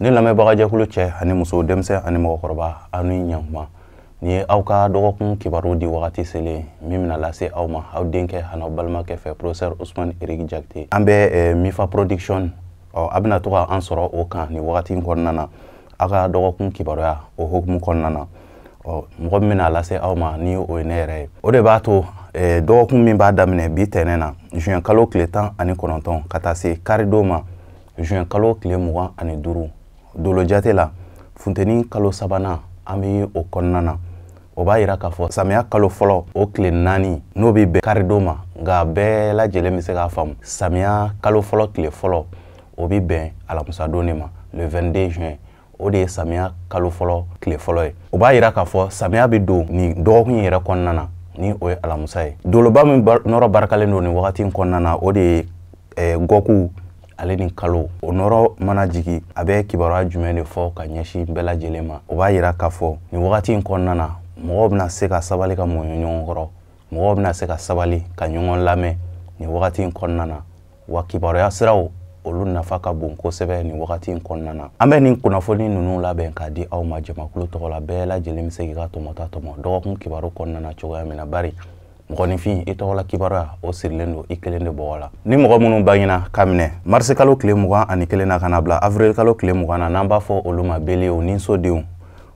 ne lamɛnbagajɛkulu cɛ ani muso denmisɛn ani mɔgɔkɔrɔba aw ni ɲankuma nin ye aw ka dɔgɔkun kibaru di wagati selen min bɛna lase aw ma aw denkɛ an'aw balimakɛ fɛ professeur ousmane éric jakite an bɛ eh, mifa production ɔ a bɛna to ka an sɔrɔ o kan nin wagati kɔnɔna na aw ka dɔgɔkun kibaruya o hukumu kɔnɔna na ɔ mɔgɔ min bɛna lase aw ma ni o ye ne yɛrɛ ye o de b'a to eh, dɔgɔkun min b'a daminɛ bi tɛnɛn na juin kalo tile tan ani kɔnɔntɔn ka taa se karidon ma juin kalo tile mugan ani duuru dolojate la funteni kalo sabanan an bɛ o kɔnɔna na o b'a yira k'a fɔ samiya kalo fɔlɔ o tile naani n'o bɛ bɛn karidon ma nka bɛɛ lajɛlen bɛ se k'a faamu samiya kalo fɔlɔ tile fɔlɔ o bɛ bɛn alamisadon de ma le 22 juin o de ye samiya kalo fɔlɔ tile fɔlɔ ye o b'a yira k'a fɔ samiya bɛ don nin dɔgɔkun yɛrɛ kɔnɔna na ni o ye alamusa ye doloba min nɔrɔ barikalen don nin wagati in kɔnɔna na o de ye eh, gɔku ale ni kalo o nɔrɔ mana jigin a bɛ kibaruya jumɛn de fɔ ka ɲɛsin bɛɛ lajɛlen ma o b'a yira k'a fɔ nin wagati in kɔnɔna na mɔgɔw bɛna se ka sabali ka mɔɲɔ ɲɔgɔn kɔrɔ mɔgɔw bɛna se ka sabali ka ɲɔgɔn lamɛn nin wagati in kɔnɔna na wa kibaruya siraw olu nafa ka bon kosɛbɛ nin wagati in kɔnɔna na an bɛ nin kunnafoni ninnu labɛn k'a di aw ma jamakulu tɔgɔ la bɛɛ lajɛlen bɛ se k'i ka tɔmɔta tɔmɔ dɔgɔkun kibaru kɔnɔna na cogoya min na bari mɔgɔninfin i tɔgɔla kibaruya o sirilen don i kelen de bɔgɔ la ni mɔgɔ minnu bangena ka minɛ mars kalo tile mugan ani kelen na ka na bila avril kalo tile mugan na n'an b'a fɔ olu ma bélier niso denw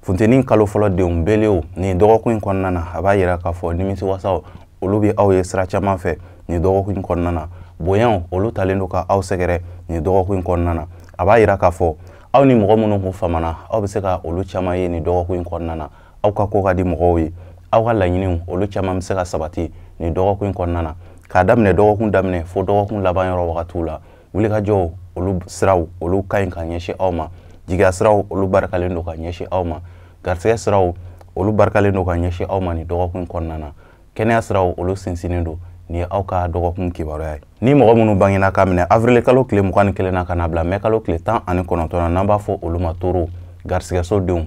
funteni kalo fɔlɔ denw bélier nin dɔgɔkun in kɔnɔna na a b'a yira k'a fɔ nimisiwasaw olu bɛ aw ye sira caman fɛ nin dɔgɔkun in kɔnɔna na bonyaw olu talen don ka aw sɛgɛrɛ nin dɔgɔkun in kɔnɔna na a b'a yira k'a fɔ aw ni mɔgɔ minnu kun famana aw bɛ se ka olu caman ye nin dɔgɔkun in kɔnɔna na aw ka ko ka di mɔgɔw ye aw ka laɲiniw olu caman bɛ se ka sabati nin dɔgɔkun in kɔnɔna na k'a daminɛ dɔgɔkun daminɛ fo dɔgɔkun laban yɔrɔ wagatiw la wulikajɔw olu siraw olu ka ɲi ka ɲɛsin aw ma jigiya siraw olu barikalen don ka ɲɛsin aw ma garisɛgɛ siraw olu barikalen don ka ɲɛsin aw ma nin dɔgɔkun kɔnɔna na kɛnɛya siraw olu sinsinnen don nin ye aw ka dɔgɔkun kibaruya ye ni mɔgɔ minnu bangena ka minɛ avril kalo tile mugan ni kelen na ka na bila mai kalo tile tan ani kɔnɔntɔn na n'an b'a fɔ olu ma taureau garisɛgɛso denw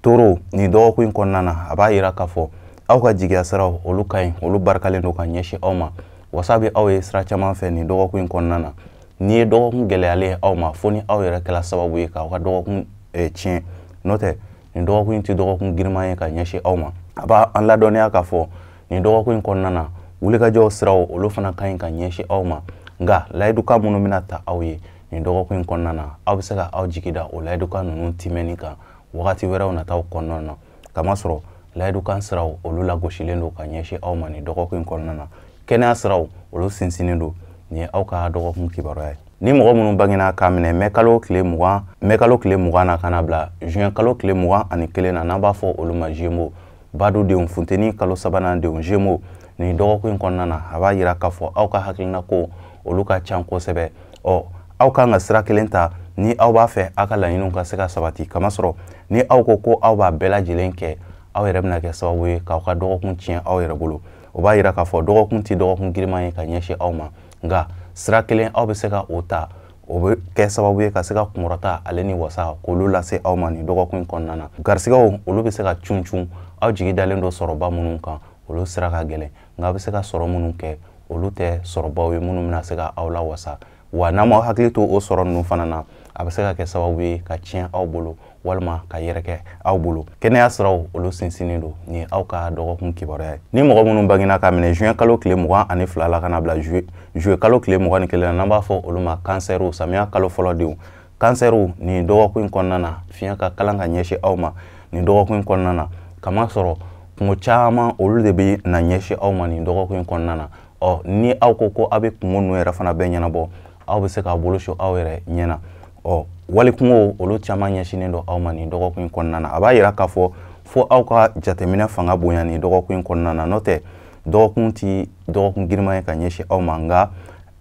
taureau nin dɔgɔkun in kɔnɔna na a b'a yira k'a fɔ aw ka jigiya siraw olu ka ɲi olu barikalen don ka ɲɛsin aw ma wasa bɛ aw ye sira caman fɛ nin dɔgɔkun in kɔnɔna na nin ye dɔgɔkun gɛlɛyalen ye aw ma fo ni aw yɛrɛ kɛra sababu ye k'aw ka dɔgɔkun eh, tiɲɛ n'o tɛ nin dɔgɔkun in tɛ dɔgɔkun giriman ye ka ɲɛsin aw ma a b'an ladɔnniya k'a fɔ nin dɔgɔkun in kɔnɔna na wulikajɔw siraw olu fana ka ɲi ka ɲɛsin aw ma nka layidukan minnu bɛna ta aw ye nin dɔgɔkun in kɔnɔna na aw bɛ se ka aw jigi da o layidukan ninnu timɛni kan wagati wɛrɛw nataw kɔnɔna na kamasɔrɔ layidukan siraw olu lagosilen don ka ɲɛsin aw ma nin dɔgɔkun in kɔnɔna na kɛnɛya siraw olu sinsinnen don nin ye aw ka dɔgɔkun kibaruya ye ni mɔgɔ minnu bangena k'a minɛ mɛ kalo tile mugan na ka na bila juin kalo tile mugan ani kelen na n'an b'a fɔ olu ma zemo badu denw funteni kalo sabanan denw zemo nin dɔgɔkun in kɔnɔna na a b'a yira k'a fɔ aw ka hakilina ko olu ka can kosɛbɛ ɔ aw kan ka sira kelen ta ni aw b'a fɛ aw ka laɲiniw ka se ka sabati kamasɔrɔ ni aw ko ko aw b'a bɛɛ lajɛlen kɛ aw yɛrɛ bɛna kɛ sababu ye k'aw ka dɔgɔkun tiɲɛ aw yɛrɛ bolo o b'a yira k'a fɔ dɔgɔkun tɛ dɔgɔkun giriman ye ka ɲɛsin aw ma nka sira kelen aw bɛ se ka o ta o bɛ kɛ sababu ye ka se ka kunkɔrɔta ale ni wasa k'olu lase aw ma nin dɔgɔkun in kɔnɔna na garisigɛw olu bɛ se ka cun cun aw jigi dalen don sɔrɔba minnu kan olu sira ka gɛlɛn nka a bɛ se ka sɔrɔ minnu kɛ olu tɛ sɔrɔbaw ye minnu bɛna se ka aw lawasa wa n'aw m'aw hakili to o sɔrɔ ninnu fana na a bɛ se ka kɛ sababu ye ka tiɲɛ aw bolo walima ka yɛrɛkɛ aw bolo kɛnɛya siraw olu sinsinnen don nin ye aw ka dɔgɔkun kibaruya ye ni mɔgɔ minnu bangena ka minɛ juin kalo tile mugan ani fila la ka na bila juillet kalo tile mugan ni kelen na n'an b'a fɔ olu ma kansɛriw samiya kalo fɔlɔ denw kansɛriw nin dɔgɔkun in kɔnɔna na fiɲɛ ka kalan ka ɲɛsin aw ma nin dɔgɔkun in kɔnɔna na kamasɔrɔ kunko caman olu de bɛna ɲɛsin aw ma nin dɔgɔkun in kɔnɔna na ɔ ni aw ko ko aw bɛ kunko ninnu yɛrɛ fana bɛɛ ɲɛnabɔ aw bɛ se k'aw bolo su aw yɛrɛ ɲɛ na ɔ wali kunko olu caman ɲɛsinnen don aw ma nin dɔgɔkun in kɔnɔna na a b'a yira k'a fɔ fo aw ka jateminɛ fanga bonya nin dɔgɔkun in kɔnɔna na n'o tɛ dɔgɔkun ti dɔgɔkun giriman ye ka ɲɛsin aw ma nka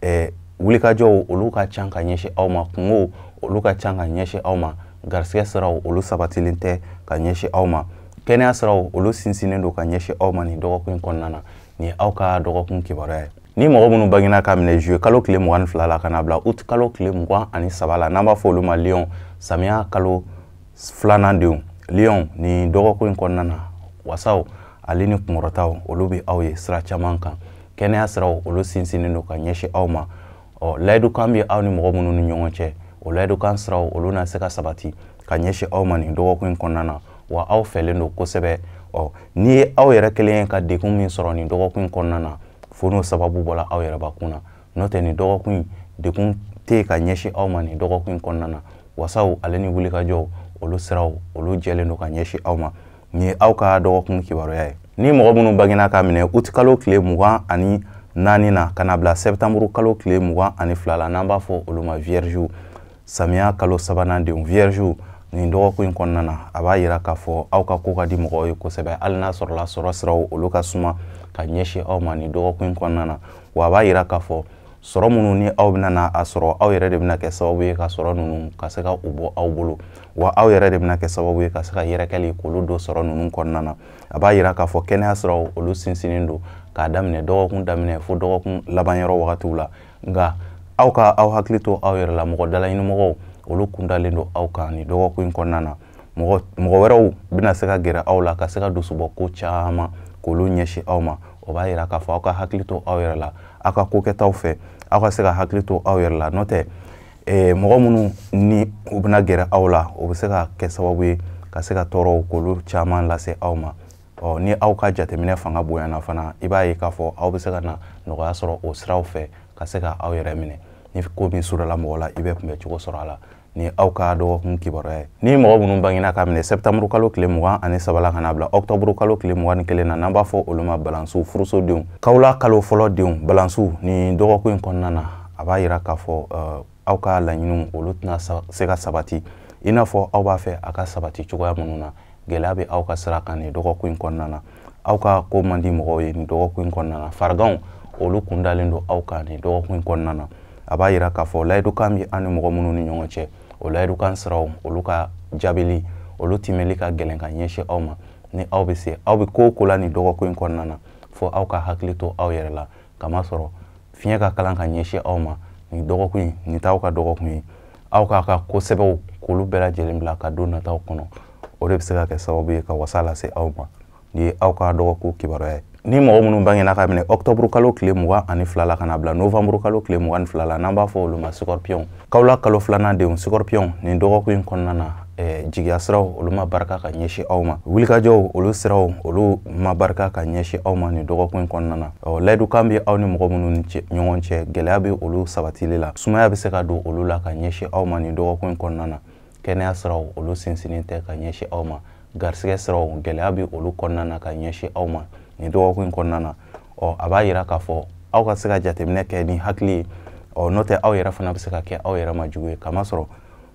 eh, wulikajɔw olu ka can ka ɲɛsin aw ma kunkow olu ka can ka ɲɛsin aw ma garisigɛ siraw olu sabatilen tɛ ka ɲɛsin aw ma kɛnɛya siraw olu sinsinnen don ka ɲɛsin aw ma nin dɔgɔkun in kɔnɔna na nin ye aw ka dɔgɔkun kibaruya ye ni mɔgɔ minnu bangena ka minɛ juillet kalo tile mugan ni fila la ka na bila uti kalo tile mugan ani saba la n'an b'a fɔ olu ma lion samiya kalo filanan denw lion nin dɔgɔkun in kɔnɔna na wasaw ale ni kunkɔrɔtaw olu bɛ aw ye sira caman kan kɛnɛya siraw olu sinsinnen don ka ɲɛsin aw ma ɔ layidukan bɛ aw ni mɔgɔ minnu ni ɲɔgɔn cɛ o layidukan siraw olu na se ka sabati ka ɲɛsin aw ma nin dɔgɔkun in kɔnɔna na wa aw fɛrɛlen don kosɛbɛ ɔ n'i ye aw yɛrɛ kelen ye ka degun min sɔrɔ nin dɔgɔkun in kɔnɔna na fo n'o sababu bɔra aw yɛrɛbakun na n'o tɛ nin dɔgɔkun in degun tɛ yen ka ɲɛsin aw ma nin dɔgɔkun in kɔnɔna na wasaw ale ni wulikajɔw olu siraw olu jɛlen don ka ɲɛsin aw ma Nin ye aw ka dɔgɔkun kibaruya ye. Ni mɔgɔ minnu bangena ka minɛ uti kalo tile mugan ani naani na ka na bila sɛptanburu kalo tile mugan ani fila la n'an b'a fɔ olu ma viyɛrizi samiya kalo sabanan denw viyɛrizi nin dɔgɔkun in kɔnɔna na a b'a yira k'a fɔ aw ka ko ka di mɔgɔw ye kosɛbɛ hali n'a sɔrɔla sɔrɔ siraw olu ka suma ka ɲɛsin aw ma nin dɔgɔkun in kɔnɔna na wa a b'a yira k'a fɔ sɔrɔ minnu ni aw bɛna na a sɔrɔ aw yɛrɛ de bɛna kɛ sababu ye ka sɔrɔ ninnu ka se ka u bɔ aw bolo wa aw yɛrɛ de bɛna kɛ sababu ye ka se ka yɛrɛkɛli k'olu don sɔrɔ ninnu kɔnɔna na a b'a yira k'a fɔ kɛnɛya siraw olu sinsinnen don k'a daminɛ dɔgɔkun daminɛ fo dɔgɔkun laban yɔrɔ wagatiw la nka aw ka aw hakili to aw yɛrɛ la mɔgɔ dalaɲinimɔgɔw olu kundalen don aw kan nin dɔgɔkun in kɔnɔna na mɔgɔ wɛrɛw bɛna se ka gɛrɛ aw la ka se ka dusubɔ ko caman k'olu ɲɛsin aw ma o b'a yira k'a fɔ aw ka hakili to aw yɛrɛ la aw ka ko kɛtaw fɛ aw ka se ka hakili to aw yɛrɛ la n'o tɛ eh, mɔgɔ minnu ni u bɛna gɛrɛ aw la o bɛ se ka kɛ sababu ye ka se ka tɔɔrɔw k'olu caman lase aw ma ɔ ni aw ka jateminɛ fanga bonyana fana i b'a ye k'a fɔ aw bɛ se ka na nɔgɔya sɔrɔ o siraw fɛ ka se ka aw yɛrɛ minɛ ni ko min surala mɔgɔ la i bɛ kunbɛ cogo sɔrɔ a la nin ye aw ka dɔgɔkun kibaruya ye ni mɔgɔ minnu bangena k'a minɛ sɛptanburu kalo tile mugan ani saba la ka na bila ɔktɔburu kalo tile mugan ni kelen na n'an b'a fɔ olu ma balansiw furusodenw kawla kalo fɔlɔ denw balansiw nin dɔgɔkun in kɔnɔna na a b'a yira k'a fɔ uh, aw ka laɲiniw olu tɛna se ka sabati i n'a fɔ aw b'a fɛ a ka sabati cogoya minnu na gɛlɛya bɛ aw ka sira kan nin dɔgɔkun in kɔnɔna na aw ka ko man di mɔgɔw ye nin dɔgɔkun in kɔnɔna na fariganw olu kundalen don aw kan nin dɔgɔkun in kɔnɔna na a b'a yira k'a fɔ layidukan bɛ aw ni mɔgɔ minnu ni ɲɔgɔn cɛ o layidukan siraw olu ka jaabili olu timɛli ka gɛlɛn ka ɲɛsin aw ma ni aw bɛ se aw bɛ ko o ko la nin dɔgɔkun in kɔnɔna na fo aw ka hakili to aw yɛrɛ la kamasɔrɔ fiɲɛ ka kalan ka ɲɛsin aw ma nin dɔgɔkun in nin t'aw ka dɔgɔkun ye aw k'aw ka ko sɛbɛw k'olu bɛɛ lajɛlen bila ka don nataw kɔnɔ o de bɛ se ka kɛ sababu ye ka wasa lase aw ma nin ye aw ka dɔgɔkun kibaruya ye ni mɔgɔ minnu bangena k'a minɛ ɔktɔburu kalo tile mugan ani fila la ka na bila novanburu kalo tile mugan ni fila la n'an b'a fɔ olu ma sikɔripiyɔnw kawla kalo filanan denw sikɔripiyɔnw nin dɔgɔkun in kɔnɔna na eh, jigiya siraw olu ma barika ka ɲɛsin aw ma wulikajɔw olu siraw olu ma barika ka ɲɛsin aw ma nin dɔgɔkun kɔnɔna na ɔ layidukan bɛ aw ni mɔgɔ minnu ni ɲɔgɔn cɛ gɛlɛya bɛ olu sabatili la sumaya bɛ se ka don olu la ka ɲɛsin aw ma nin dɔgɔkun kɔnɔna na kɛnɛya siraw olu sinsinnen tɛ ka ɲɛsin aw ma garisɛgɛ siraw gɛlɛya bɛ olu kɔnɔna na ka ɲɛsin aw ma nin dɔgɔkun kɔnɔna na ɔ a b'a yira k'a fɔ aw ka se ka jateminɛ kɛ ni hakili ye ɔ n'o tɛ aw yɛrɛ fana bɛ se ka kɛ aw yɛrɛ ma jugu ye kamasɔrɔ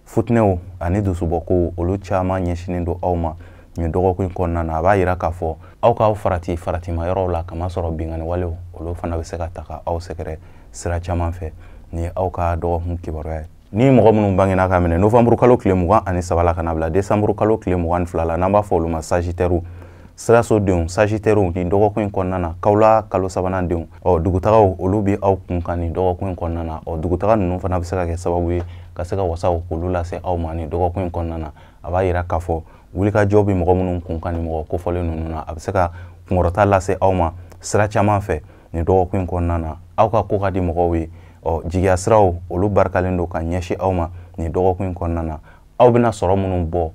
futinɛw ani dusubɔkow olu caman ɲɛsinnen don aw ma nin dɔgɔkun in kɔnɔna na a b'a yira k'a fɔ aw k'aw farati faratima yɔrɔw la kamasɔrɔ binkanni walew olu fana bɛ se ka ta ka aw sɛgɛrɛ sira caman fɛ nin ye aw ka dɔgɔkun kibaruya ye ni mɔgɔ minnu bangena k'a minɛ novanburu kalo tile mugan ani saba la ka na bila desanburu kalo tile mugan ni fila la n'an b'a fɔ olu ma sajitɛriw sirasodenw sagitɛriw nin dɔgɔkun in kɔnɔna na kawla kalo sabanan denw ɔ dugutagaw olu bɛ aw kun kan nin dɔgɔkun in kɔnɔna na ɔ dugutaga ninnu fana bɛ se ka kɛ sababu ye ka se ka wasaw k'olu lase aw ma nin dɔgɔkun in kɔnɔna na a b'a yira k'a fɔ wulikajɔ bɛ mɔgɔ minnu kun kan nin mɔgɔ kofɔlen ninnu na a bɛ se ka kunkɔrɔta lase aw ma sira caman fɛ nin dɔgɔkun in kɔnɔna na aw ka ko ka di mɔgɔw ye ɔ jigiya siraw olu barikalen don ka ɲɛsin aw ma nin dɔgɔkun in kɔnɔna na aw bɛna sɔrɔ minnu bɔ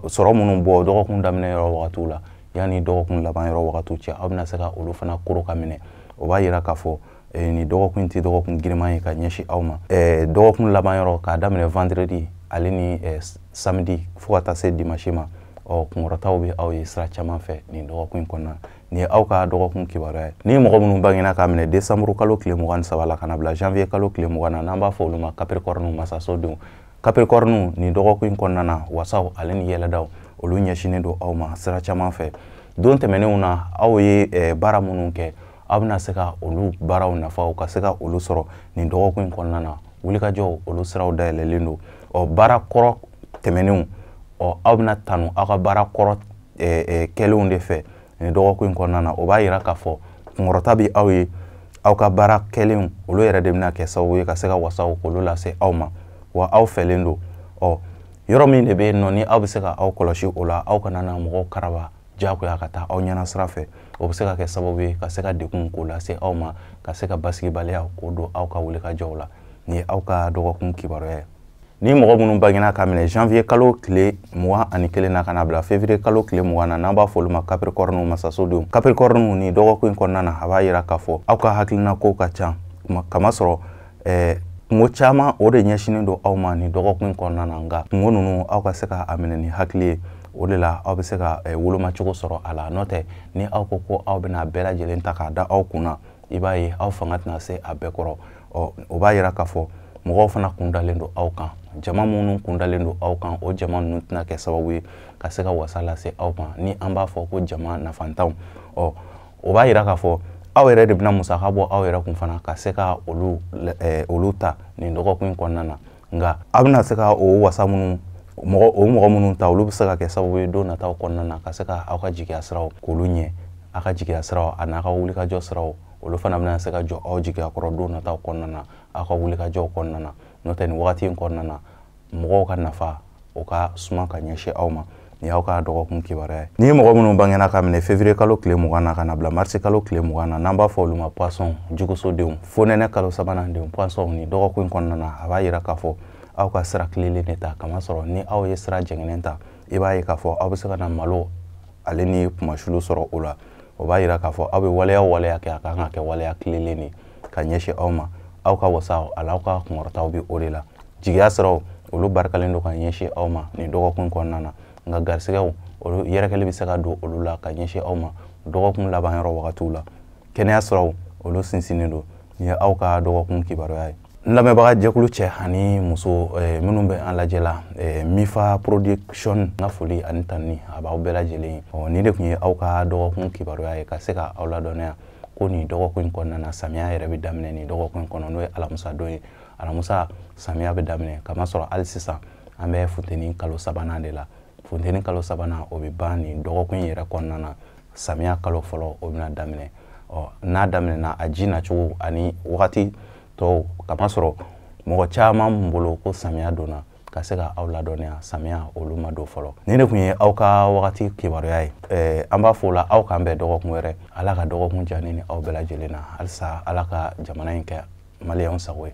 sɔrɔ minnu bɔ dɔgɔkun daminɛ yɔrɔ wagatiw la yanni dɔgɔkun laban yɔrɔ wagatiw cɛ aw bɛna se ka olu fana koro ka minɛ o b'a yira k'a fɔ eh, nin dɔgɔkun tɛ dɔgɔkun giriman ye ka ɲɛsin aw ma eh, dɔgɔkun laban yɔrɔ k'a daminɛ vendredi ale ni eh, samedi fo ka taa se dimanche ma ɔ kunkɔrɔtaw bɛ aw ye sira caman fɛ nin dɔgɔkun in kɔnɔna nin ye aw ka dɔgɔkun kibaruya ye ni mɔgɔ minnu bangena k'a minɛ desanburu kalo tile mugan ni saba la ka na bila janvier kalo tile mugan na n'an b'a fɔ olu ma capricorne masasodenw kapirikɔriniw nin dɔgɔkun in kɔnɔna na wasaw ale ni yɛlɛdaw olu ɲɛsinnen don aw ma sira caman fɛ don tɛmɛnenw na aw ye eh, baara minnu kɛ aw bɛna se ka olu baaraw nafaw ka se ka olu sɔrɔ nin dɔgɔkun in kɔnɔna na wulikajɔw olu siraw dayɛlɛlen don ɔ baara kɔrɔ tɛmɛnenw ɔ aw bɛna tanu aw ka baara kɔrɔ eh, eh, kɛlenw de fɛ nin dɔgɔkun in kɔnɔna na o b'a yira k'a fɔ kunkɔrɔta bɛ aw ye aw ka baara kɛlenw olu yɛrɛ de bɛna kɛ sababu ye ka se ka wasaw k'olu lase aw ma wa aw fɛlen don ɔ yɔrɔ min de bɛ yen nɔ ni aw bɛ se ka aw kɔlɔsi o la aw kana na mɔgɔw karaba diyagoya ka taa aw ɲɛna sira fɛ o bɛ se ka kɛ sababu ye ka se ka degun k'o lase aw ma ka se ka basigibaliya k'o don aw ka wulikajɔw la nin ye aw ka dɔgɔkun kibaruya ye ni mɔgɔ minnu bangena ka minɛ janvier kalo tile mugan ani kelen na ka na bila février kalo tile mugan na n'an b'a fɔ olu ma capricorne masasodenw capricorne nin dɔgɔkun in kɔnɔna na a b'a yira k'a fɔ aw ka hakilina kow ka ca kamasɔrɔ eh, kunko caman o de ɲɛsinnen don aw ma nin dɔgɔkun in kɔnɔna na nka kunko ninnu aw ka se ka a minɛ ni hakili ye o de la aw bɛ se ka eh, wolomacogo sɔrɔ a la n'o tɛ ni aw ko ko aw bɛna bɛɛ lajɛlen ta k'a da aw kun na i b'a ye aw fanga tɛna se a bɛɛ kɔrɔ ɔ o b'a yira k'a fɔ mɔgɔw fana kun dalen don aw kan jama minnu kun dalen don aw kan o jama ninnu tɛna kɛ sababu ye ka se ka wasa lase aw ma ni an b'a fɔ ko jama nafantanw ɔ o b'a yira k'a fɔ aw yɛrɛ de bɛna musaka bɔ aw yɛrɛ kun fana ka se ka olu olu ta nin dɔgɔkun in kɔnɔna na nka aw bɛna se ka o wasa minnu mɔgɔ o mɔgɔ minnu ta olu bɛ se ka kɛ sababu ye don nataw kɔnɔna na ka se ka aw ka jigiya siraw k'olu ɲɛ aw ka jigiya siraw a n'a ka wulikajɔ siraw olu fana bɛna se ka jɔ aw jigiya kɔrɔ don nataw kɔnɔna na aw ka wulikajɔw kɔnɔna na n'o tɛ nin wagati in kɔnɔna na mɔgɔw ka nafa o ka suma ka ɲɛsin aw ma nin y'aw ka dɔgɔkun kibaruya ye ni ye mɔgɔ minnu bangena ka minɛ fevriye kalo tile mugan na ka na bila marisi kalo tile mugan na n'an b'a fɔ olu ma poisson jugusodenw fonɛnɛ kalo sabanan denw poisson nin dɔgɔkun kɔnɔna na a b'a yira k'a fɔ aw ka sira tilelen de ta k'a masɔrɔ ni aw ye sira jɛngɛnen ta i b'a ye k'a fɔ aw bɛ se ka na malo ale ni kunmasuli sɔrɔ o la o b'a yira k'a fɔ aw bɛ waleya waleya kɛ a kan ka kɛ waleya tilelen de ye ka ɲɛsin aw ma aw ka wasaw ani aw ka kunkɔrɔtaw bɛ o de la jigiya siraw olu barikalen don ka ɲɛsin aw ma nin dɔgɔkun kɔnɔna na nka garisɛgɛw olu yɛrɛkɛli bɛ se ka don olu la ka ɲɛsin aw ma dɔgɔkun laban yɔrɔ wagatiw la kɛnɛya siraw olu sinsinnen don nin ye aw ka dɔgɔkun kibaruya ye n lamɛnbaga jɛkulu cɛ ani muso eh, minnu bɛ an lajɛ la eh, mifa production n ka foli ani tanuni a b'aw bɛɛ lajɛlen ye ɔ nin de tun ye aw ka dɔgɔkun kibaruya ye ka se ka aw ladɔnniya ko nin dɔgɔkun in kɔnɔna na samiya yɛrɛ bɛ daminɛ nin dɔgɔkun in kɔnɔ n'o ye alamisa don ye alamisa samiya bɛ daminɛ k'a masɔrɔ hali sisan an bɛ funteni kalo sabanan de la funteni kalo sabanan o bɛ ban nin dɔgɔkun in yɛrɛ kɔnɔna na samiya kalo fɔlɔ o bɛna daminɛ ɔ n'a daminɛna a ji nacogo ani wagati tɔw k'a masɔrɔ mɔgɔ caman bolo ko samiya donna ka se ka aw ladɔnniya samiya olu ma don fɔlɔ nin de tun ye aw ka wagati kibaruya ye eh, an b'a fɔ o la aw k'an bɛn dɔgɔkun wɛrɛ ala ka dɔgɔkun diya ne ni aw bɛɛ lajɛlen na halisa ala ka jamana in kɛ maliyɛnw sago ye